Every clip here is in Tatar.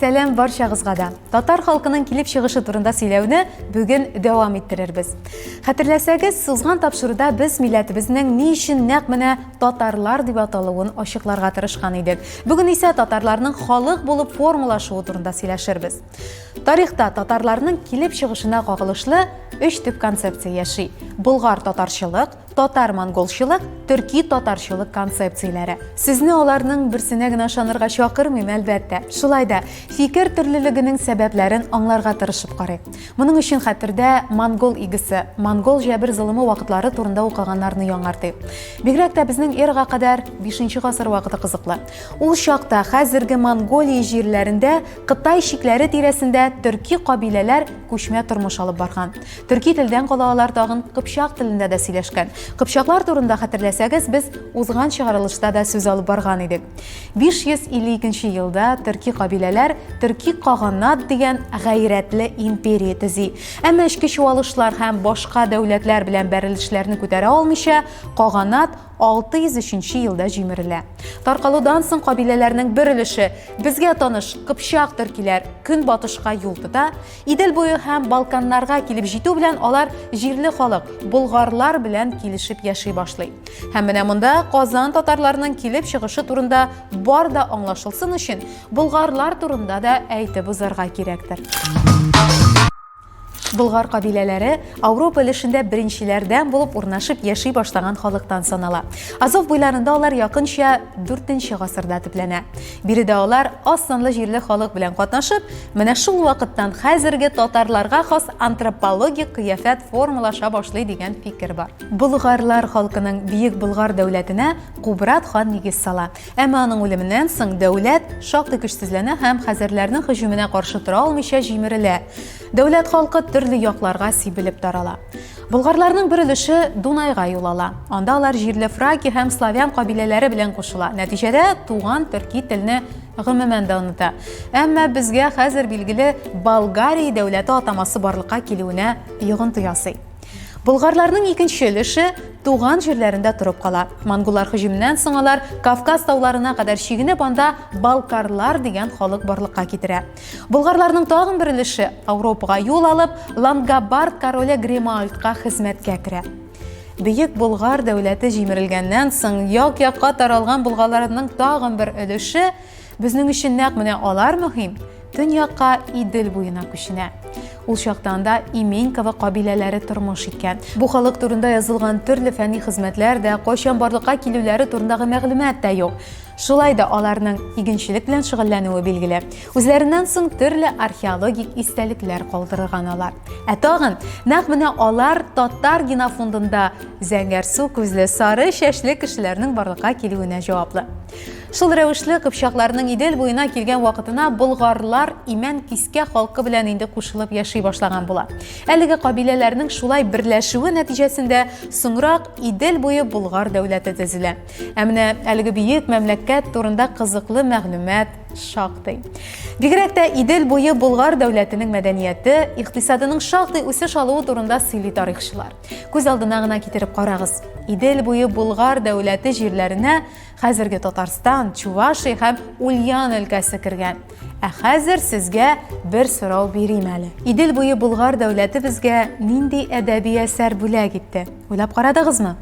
Сәләм барчагызга да. Татар халкының килеп чыгышы турында сөйләүне бүген дәвам иттерербез. Хәтерләсәгез, сузган тапшыруда без милләтебезнең ни өчен нәкъ менә татарлар дип аталуын ачыкларга тырышкан идек. Бүген исә татарларның халык булып формалашуы турында сөйләшербез. Тарихта татарларның килеп чыгышына кагылышлы өч төп концепция яши. Болгар татарчылык, Татар-монголчылык, төрки-татарчылык концепцияләре. Сезне аларның берсенә генә ышанырга чакырмыйм, әлбәттә. Шулай да, фикер төрлелегенең сәбәпләрен аңларга тырышып карыйк. Моның өчен хәтердә монгол игесе, монгол җәбер-золымы вакытлары турында укыганнарны яңартыйк. Бигрәк тә безнең эрага кадәр 5 гасыр вакыты кызыклы. Ул чакта хәзерге Монголия җирләрендә Кытай чикләре тирәсендә төрки кабиләләр күчмә тормыш алып барган. Төрки телдән кала алар тагын кыпчак телендә дә сөйләшкән. Кыпчаклар турында хәтерләсәгез, без узган чыгарылышта да сүз алып барган идек. 552 елда төрки кабиләләр төрки каганат дигән гайрәтле империя төзи. Әмма эчке чуалышлар һәм башка дәүләтләр белән бәрелешләрне күтәрә алмыйча, каганат 603 елда җимерелә. Таркалудан соң кабиләләрнең бер өлеше безгә таныш кыпчак төркиләр көнбатышка юл тота, Идел буе һәм Балканнарга килеп җитү белән алар җирле халык, болгарлар белән килешеп яши башлый. Һәм менә монда Казан татарларының килеп чыгышы турында бар да аңлашылсын өчен, болгарлар турында да әйтеп узарга кирәктер. Болгар кабиләләре Ауропа өлешендә беренчеләрдән булып урнашып яши башлаган халыктан санала. Азов буйларында алар якынча 4 нче гасырда төпләнә. Биредә алар аз санлы җирле халык белән катнашып, менә шул вакыттан хәзерге татарларга хас антропологик кыяфәт формалаша башлый дигән фикер бар. Болгарлар халкының Бөек Болгар дәүләтенә Кубрат хан нигез сала. Әмма аның үлеменнән соң дәүләт шактый көчсезләнә һәм хәзәрләрнең һөҗүменә каршы тора алмыйча җимерелә. Дәүләт халкы төрле якларга сибелеп тарала. Болгарларның бер өлеше Дунайга юл ала. Анда алар җирле фраки һәм славян кабиләләре белән кушыла. Нәтиҗәдә туган төрки телне гомумән дә оныта. Әмма безгә хәзер билгеле Болгария дәүләте атамасы барлыкка килүенә йогынты ясый. Болгарларның икенче өлеше туган җирләрендә торып кала. Монголлар һөҗүменнән соң алар Кавказ тауларына кадәр чигенеп, анда балкарлар дигән халык барлыкка китерә. Болгарларның тагын бер өлеше Ауропага юл алып, Лангобард короле Гримальдка хезмәткә керә. Бөек Болгар дәүләте җимерелгәннән соң, як-якка таралган булгаларның тагын бер өлеше безнең өчен нәкъ менә алар мөһим, төньякка Идел буена күченә. Ул чакта анда Именьково кабиләләре тормыш иткән. Бу халык турында язылган төрле фәнни хезмәтләр дә, кайчан барлыкка килүләре турындагы мәгълүмат та юк. Шулай да аларның игенчелек белән шөгыльләнүе билгеле. Үзләреннән соң төрле археологик истәлекләр калдырган алар. Ә тагын нәкъ менә алар татар генофондында зәңгәрсу күзле сары чәчле кешеләрнең барлыкка килүенә җаваплы. Шул рәвешле кыпчакларның Идел буена килгән вакытына болгарлар имән кискә халкы белән инде кушылып яши башлаган була. Әлеге кабиләләрнең шулай берләшүе нәтиҗәсендә соңрак Идел буе болгар дәүләте төзелә. Ә менә әлеге бөек мәмләкәт турында кызыклы мәгълүмат шактый. Бигрәк тә Идел буе Болгар дәүләтенең мәдәнияте, икътисадының шактый үсеш алуы турында сөйли тарихчылар. Күз алдына гына китереп карагыз. Идел буе Болгар дәүләте җирләренә хәзерге Татарстан, Чувашия һәм Ульян өлкәсе кергән. Ә хәзер сезгә бер сорау бирим әле. Идел буе Болгар дәүләте безгә нинди әдәби әсәр бүләк итте? Уйлап карадыгызмы?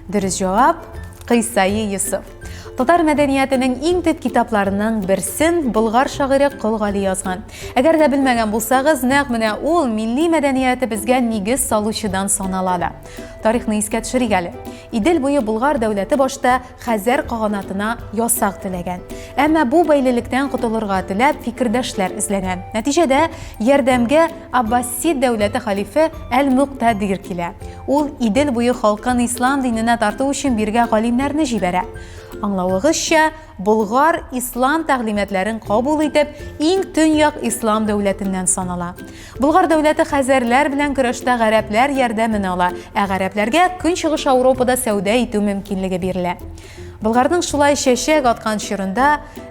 Дөрес җавап Кыйсаи Йосыф. Татар мәдәниятының иң төп китапларының берсен болгар шагыйре Кол Гали язган. Әгәр дә белмәгән булсагыз, нәкъ менә ул милли мәдәниятебезгә нигез салучыдан санала да. Тарихны искә төшерик әле. Идел буе Болгар дәүләте башта Хәзәр каганатына ясак теләгән. Әмма бу бәйлелектән котылырга теләп фикердәшләр эзләгән. Нәтиҗәдә ярдәмгә Аббасид дәүләте халифе Әл-Муктадир килә. Ул Идел буе халкын ислам диненә тарту өчен биргә галимнәрне җибәрә. Аңлавыгызча, Болгар ислам тәгълиматларын кабул итеп, иң төньяк ислам дәүләтеннән санала. Болгар дәүләте хәзәрләр белән көрәштә гарәпләр ярдәмен ала, ә гарәпләргә Көнчыгыш Ауропада сәүдә итү мөмкинлеге бирелә. Болгарның шулай чәчәк аткан чорында,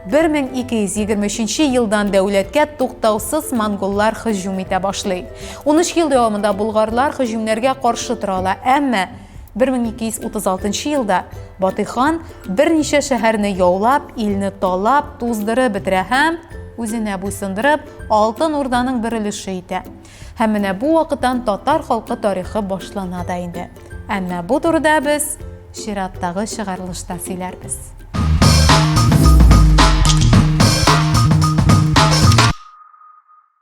1223 елдан дәүләткә туктаусыз монголлар һөҗүм итә башлый. Унөч ел дәвамында болгарлар һөҗүмнәргә каршы тора ала, әмма 1236 елда Батый хан берничә шәһәрне яулап, илне талап, туздырып бетерә һәм, үзенә буйсындырып, Алтын Урданың бер өлеше итә. Һәм менә бу вакыттан татар халкы тарихы башлана да инде. Әмма бу турыда без чираттагы чыгарылышта сөйләрбез.